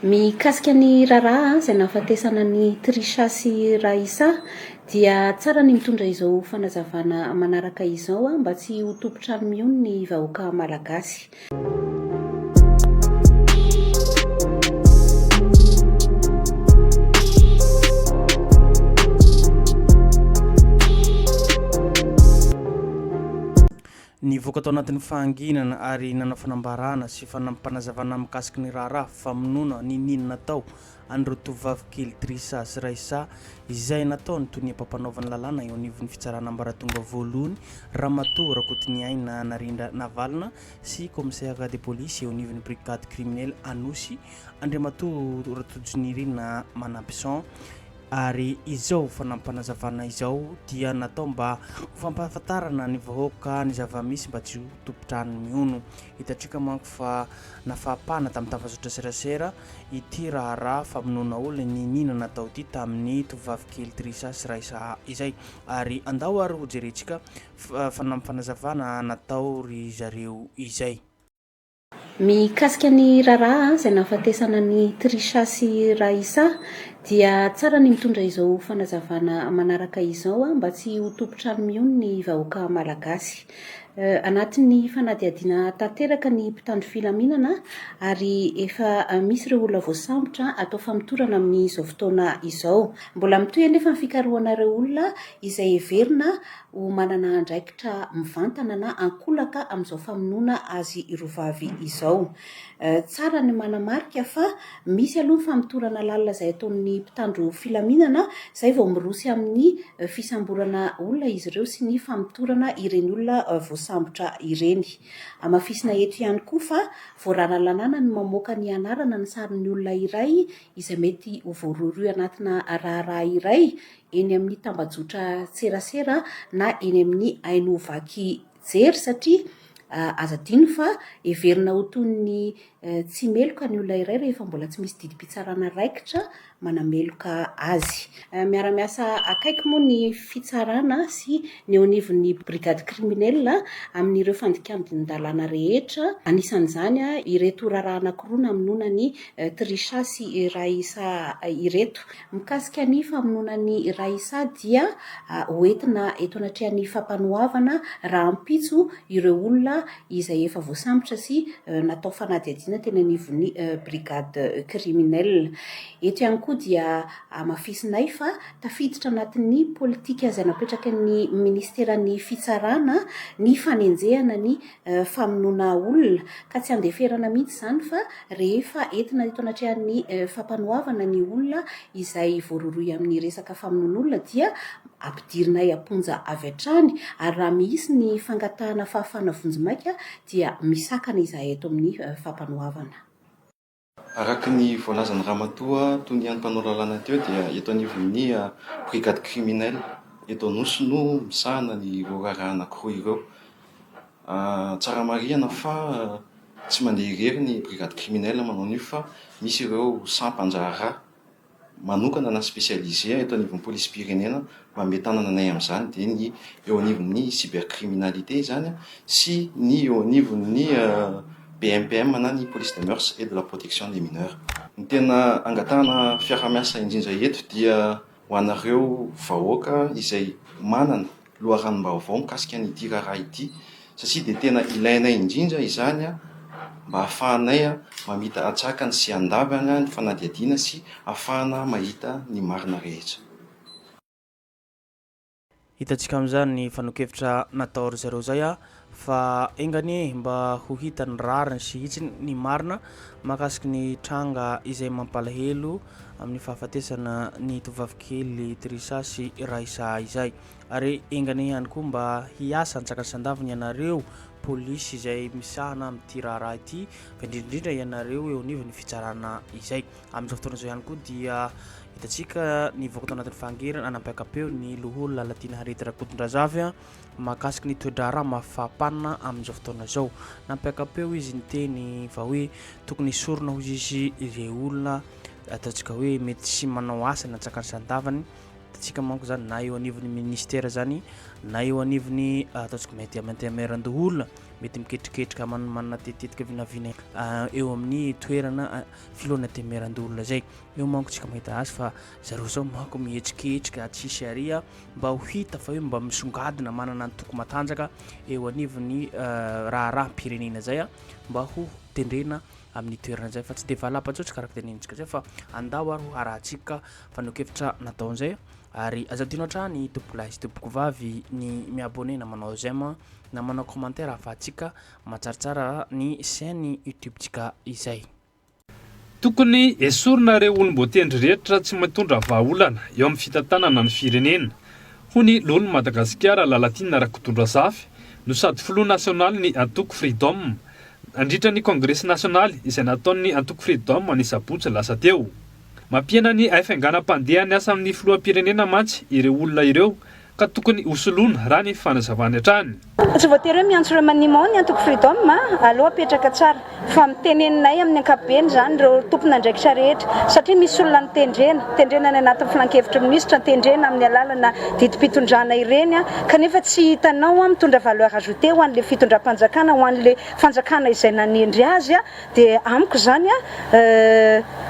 Mikasika ny raharaha izay nahafatesana an'i Trisha sy Raissa dia tsara ny mitondra izao fanazavana manaraka izao mba tsy ho tompon-trano mihono ny vahoaka malagasy. Nivoaka tao anatin'ny fahanginana ary nanao fanambarana sy fanampim-panazavana mikasika ny raharaha famonoana niniana natao an'ireo tovovavy kely Trissa sy Raissa izay nataon'ny tonia mpampanaovana lalàna eo anivon'ny fitsarana ambaratonga voalohany Ramatoa Rakotoniaina Narindra Navalona sy Commissaire de police eo anivon'ny brigade criminelle Anosy Andriamatoa Ratojinirina Manabison Ary izao fanapanazavana izao dia natao mba ho fampahafantarana ny vahoaka ny zava-misy mba tsy ho tompon-trano mihono. Hitantsika manko fa nafapana tamin'ny tafazotra serasera ity raharaha famonoana olona niniana natao ity tamin'ny tovovavy kely Trisha sy Raissa izay. Ary andao ary hojerentsika fanapanazavana natao ry zareo izay. Mikasika ny raharaha izay nahafatesana an'i Trisha sy Raissa dia tsara ny mitondra izao fanazavana manaraka izao mba tsy ho tompon-trano mihono ny vahoaka malagasy. Anatin'ny fanadihadiana tanteraka ny mpitandro filaminana ary efa misy ireo olona voasambotra atao famotorana amin'izao fotoana izao. Mbola mitohy anefa ny fikarohana ireo olona izay heverina ho manana andraikitra mivantana na ankolaka amin'izao famonoana azy roa vavy izao. Tsara ny manamarika fa misy aloha ny famotorana lalina izay ataon'ny mpitandro filaminana izay vao miroso amin'ny fisamborana olona izy ireo sy ny famotorana ireny olona voasambotra ireny. Hamafisina eto ihany koa fa voararalanana ny mamoaka ny anarana ny sarin'ny olona iray izay mety ho voarohirohy anatina raharaha iray eny amin'ny tambajotra serasera na eny amin'ny haino vaky jery satria aza adino fa heverina ho toy ny tsy meloka ny olona iray rehefa mbola tsy misy didim-pitsarana raikitra manameloka azy. Miara-miasa akaiky moa ny fitsarana sy ny eo anivon'ny brigade criminelle amin'ireo fandikan-dalàna rehetra, anisan'izany ireto raharaha anankiroa namonoana an'i Trisha sy Raissa ireto. Mikasika ny famonoana an'i Raissa dia ho entina eto anatrehan'ny fampanoavana rahampitso ireo olona izay efa voasambotra sy natao fanadihadiana teny anivon'ny brigade criminelle. Eto ihany koa dia hamafisinay fa tafiditra anatin'ny politika izay napetraky ny minisiteran'ny fitsarana ny fanenjehana ny famonoana olona, ka tsy andeferana mihitsy izany fa rehefa entina eto anatrehan'ny fampanoavana ny olona izay voarohirohy amin'ny resaka famonoan'olona dia ampidirinay am-ponja avy hatrany ary raha mihisy ny fangatahana fahafahana vonjimaika dia misakana izahay eto amin'ny fampanoavana. Araka ny voalazan'i Ramatoa Toniany mpanao lalàna teo dia eto anivon'ny Brigade Criminelle eto Anosy no misahana ireo raharaha anankiroa ireo. Tsara marihana fa tsy mandeha irery ny Brigade Criminelle manao an'io fa misy ireo sampan-draharaha. manokana na specialisé eto anivon'ny polisim-pirenena mba mety hanananay amin'izany dia ny eo anivon'ny cybercriminalité izany sy ny eo anivon'ny BMPM na ny police des mœurs et de la protection des mineurs. Ny tena angatahana fiaraha-miasa indrindra eto dia ho anareo vahoaka izay manana. loharanom-baovao mikasika an'ity raharaha ity satria dia tena ilainay indrindra izany mba hahafahanay mamita antsakany sy handavana ny fanadihadiana sy hahafahana mahita ny marina rehetra. Hitantsika amin'izany ny fanehoan-kevitra natao ry zareo izay. Fa enga anie mba ho hita ny rariny sy hitsiny ny marina mahakasiky ny tranga izay mampalahelo amin'ny fahafatesana ny tovovavikely Trisha sy Raissa izay. Ary enga anie ihany koa mba hiasa an-tsakansandaviny ianareo polisy izay misahana amin'ity raharaha ity fa indrindra indrindra ianareo eo anivon'ny fitsarana izay. Amin'izao fotoana izao ihany koa dia hitantsika nivoaka tao anatin'ny fahangerana anampiaka-peo ny loholona Lalatiana Harriet Rakotondrazafy. mahakasika ny toe-draharaha mafapanina amin'izao fotoana izao. Nampiaka-peo izy niteny fa hoe tokony hisorona hoy izy ireo olona ataontsika hoe mety tsy manao asa na tsakany sandavany tsika manko zany na eo anivon'ny ministera zany na eo anivon'ny ah, ataontsika mety amantemeran-doholona mety miketriketrika manmanina tetetika vinavina ah, eo amin'ny toerana ah, filoana temeran-doholona zay eo manko tsika mahita azy fa zareo zao manko mihetsiketsika tsisy aria mba ho hita fa hoe mba misongadina manana antoko matanjaka eo anivon'ny raharaham-pirenena izay mba ho tendrena amin'ny toerana izay fa tsy dia valapatsotra karaka tenentsika izay fa andao ary ho harahantsika fanokevitra natao izay ary aza dino hatrany tompokolahy sy tompoko vavy ny miabone na manao zema na manao commentaire ahafahantsika matsaritsara ny chaîne youtube-tsika izay Tokony esorina ireo olom-boatendry rehetra tsy mitondra vahaolana eo amin'ny fitantanana ny firenena, hoy ny loholon'i Madagasikara Lalatiana Rakotondrazafy no sady filoha nasionalin'ny antoko Freedom, nandritra ny kongresy nasionaly izay nataon'ny antoko Freedom ny sabotsy lasa teo. Mampihena ny haifaiganam-pandehan'ny asan'ny filoham-pirenena mantsy ireo olona ireo ka tokony ho soloina raha ny fanazavany hatrany. Fa tsy voatery hoe miantso remaniement ny antoko Freedom a! Aleo apetraka tsara fa miteneninay amin'ny ankapobeny izany ireo tompon'andraikitra rehetra satria misy olona notendrena, tendrena any anatin'ny filankevitry ny minisitra, tendrena amin'ny alalana didim-pitondrana ireny kanefa tsy hitanao mitondra valeur ajoutée ho an'ilay fitondram-panjakana, ho an'ilay fanjakana izay nanendry azy Dia amiko izany a,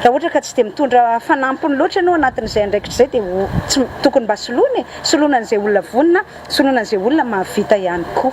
raha ohatra ka tsy dia mitondra fanampiny loatra ianao anatin'izay andraikitra izay dia ho, tsy, tokony mba soloina e! Soloina an'izay olona vonona, soloina an'izay olona mahavita ihany koa.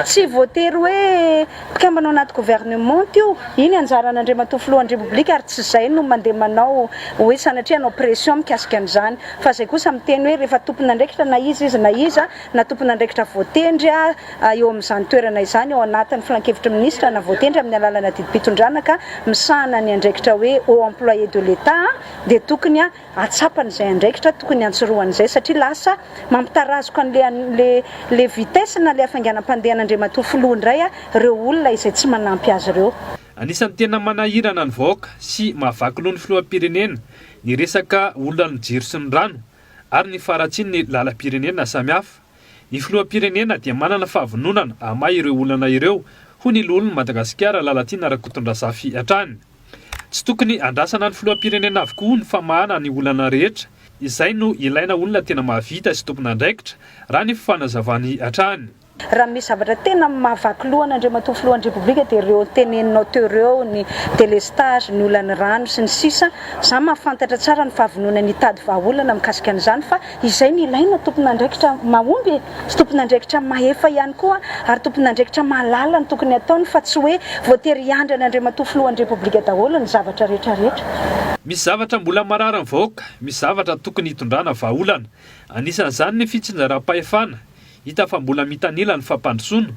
Tsy voatery hoe mpikambana ao anaty gouvernement io, iny anjaran'Andriamatoa Filohan'ny Repoblika ary tsy izay no mandeha manao hoe sanatria hanao pression mikasika an'izany. Fa izay kosa miteny hoe rehefa tompon'andraikitra na iza izy na iza, na tompon'andraikitra voatendry a, eo amin'izany toerana izany ao anatin'ny Filankevitry ny Minisitra na voatendry amin'ny alalana didim-pitondrana ka misahana ny andraikitra hoe Haut Employé de l'Etat dia tokony hahatsapany izay andraikitra tokony hantsirohany izay satria lasa mampitarazoka an'ilay vitesse na ilay hafainganam-pandehan' Andriamatoa Filoha indray ireo olona izay tsy manampy azy ireo. Anisan'ny tena manahirana ny vahoaka sy mahavaky loha ny Filoham-pirenena ny resaka olan'ny jiro sy ny rano ary ny faharatsian'ny lalam-pirenena samihafa. Ny filoham-pirenena dia manana fahavononana hamaha ireo olana ireo, hoy ny loholon'i Madagasikara Lalatiana Rakotondrazafy hatrany. Tsy tokony andrasana ny filoham-pirenena avokoa ny famahana ny olana rehetra, izay no ilaina olona tena mahavita sy tompon'andraikitra, raha ny fanazavany hatrany. Raha misy zavatra tena mahavaky loha an'Andriamatoa Filohan'ny Repoblika dia ireo teneninao teo ireo, ny delestazy, ny olan'ny rano sy ny sisa. Izaho mahafantatra tsara ny fahavononany hitady vahaolana mikasika an'izany fa Izay no ilaina, tompon'andraikitra mahomby e! Sy tompon'andraikitra mahefa ihany koa ary tompon'andraikitra mahalala ny tokony hataony fa tsy hoe voatery hiandry an'i Andriamatoa Filohan'ny Repoblika daholo ny zavatra rehetra rehetra. Misy zavatra mbola mararin'ny vahoaka, misy zavatra tokony hitondrana vahaolana. Anisan'izany ny fitsinjaram-pahefana. Hita fa mbola mitanila ny fampandrosoana,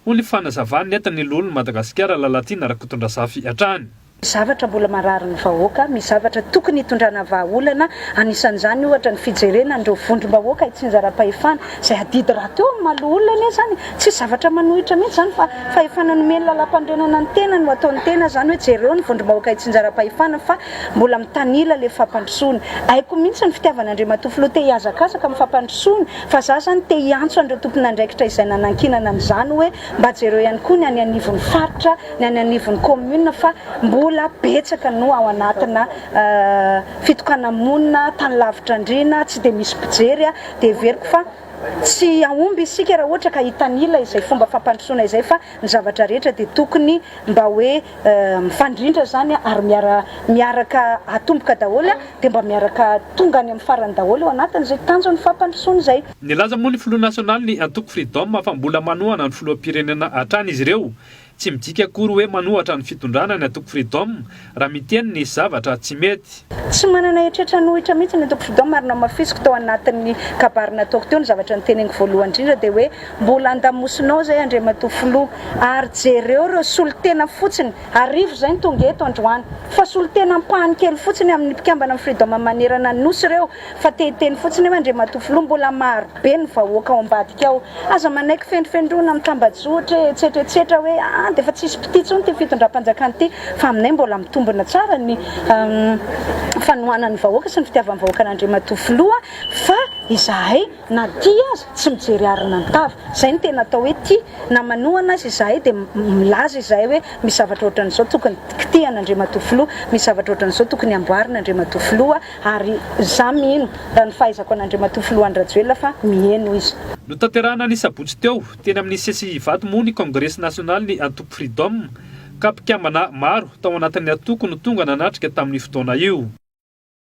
hoy ny fanazavany nentin'ny Loholon'i Madagasikara Lalatiana Rakotondrazafy hatrany. Zavatra mbola mararin'ny vahoaka, misy zavatra tokony hitondrana vahaolana, anisan'izany ohatra ny fijerena an'ireo vondrom-bahoaka hitsinjaram-pahefana, izay adidy rahateo amin'ny maha loholona anie izany, tsisy zavatra manohitra mihitsy izany fa fahefana nomen'ny lalampanorenana ny tenany ho ataon'ny tena izany hoe jereo ny vondrom-bahoaka hitsinjaram-pahefana fa mbola mitanila ilay fampandrosoana, haiko mihitsy ny fitiavan'Andriamatoa Filoha te hihazakazaka amin'ny fampandrosoana fa za izany te hiantso an'ireo tompon'andraikitra izay nanankinana an'izany hoe Mba jereo ihany koa ny any anivon'ny faritra, ny any anivon'ny commune fa mbola betsaka no ao anatina fitokana-monina, tany lavitra andriana, tsy dia misy mpijery, dia heveriko fa tsy hahomby isika raha ohatra ka hitanila izay fomba fampandrosoana izay fa ny zavatra rehetra dia tokony mba hoe mifandrindra izany ary miara miaraka atomboka daholo dia mba miaraka tonga any amin'ny farany daholo eo anatin'izay tanjon'ny fampandrosoana izay. Nilaza moa ny filoha nasionalin'ny antoko Freedom fa mbola manohana ny filoham-pirenena hatrany izy ireo. Tsy midika akory hoe manohatra ny fitondrana ny antoko Freedom raha miteny ny zavatra tsy mety. Tsy manana eritreritra hanohitra mihitsy ny antoko Freedom ary nohamafisiko tao anatin'ny kabary nataoko teo ny zavatra noteneniko voalohany indrindra dia hoe mbola andamosinao izay Andriamatoa Filoha ary jereo ireo solontena fotsiny, arivo izay no tonga eto androany, fa solontena ampahany kely fotsiny amin'ny mpikambana amin'ny Freedom manerana ny Nosy ireo. Fa te hiteny fotsiny eo Andriamatoa Filoha, mbola maro be ny vahoaka ao ambadika ao. Aza manaiky fendrofendroana amin'ny tambajotra etsetra etsetra hoe aa dia efa tsisy mpitia intsony ity fitondram-panjakana ity fa aminay mbola mitombina tsara ny fanohanan'ny vahoaka sy ny fitiavan'ny vahoaka an'Andriamatoa Filoha fa izahay na tia aza tsy mijery harona ny tava. Izay no tena atao hoe tia na manohana aza izahay dia milaza izahay hoe misy zavatra ohatran'izao tokony kitihana Andriamatoa Filoha, misy zavatra ohatran'izao tokony amboarina Andriamatoa Filoha. Ary za mino, raha ny fahaizako an'Andriamatoa Filoha Andry Rajoelina fa miheno izy. Notanterahina ny sabotsy teo, teny amin'ny CCI Ivato moa ny Kongresy Nasionalin'ny Antoko Freedom, ka mpikambana maro tao anatin'ny antoko no tonga nanatrika tamin'io fotoana io.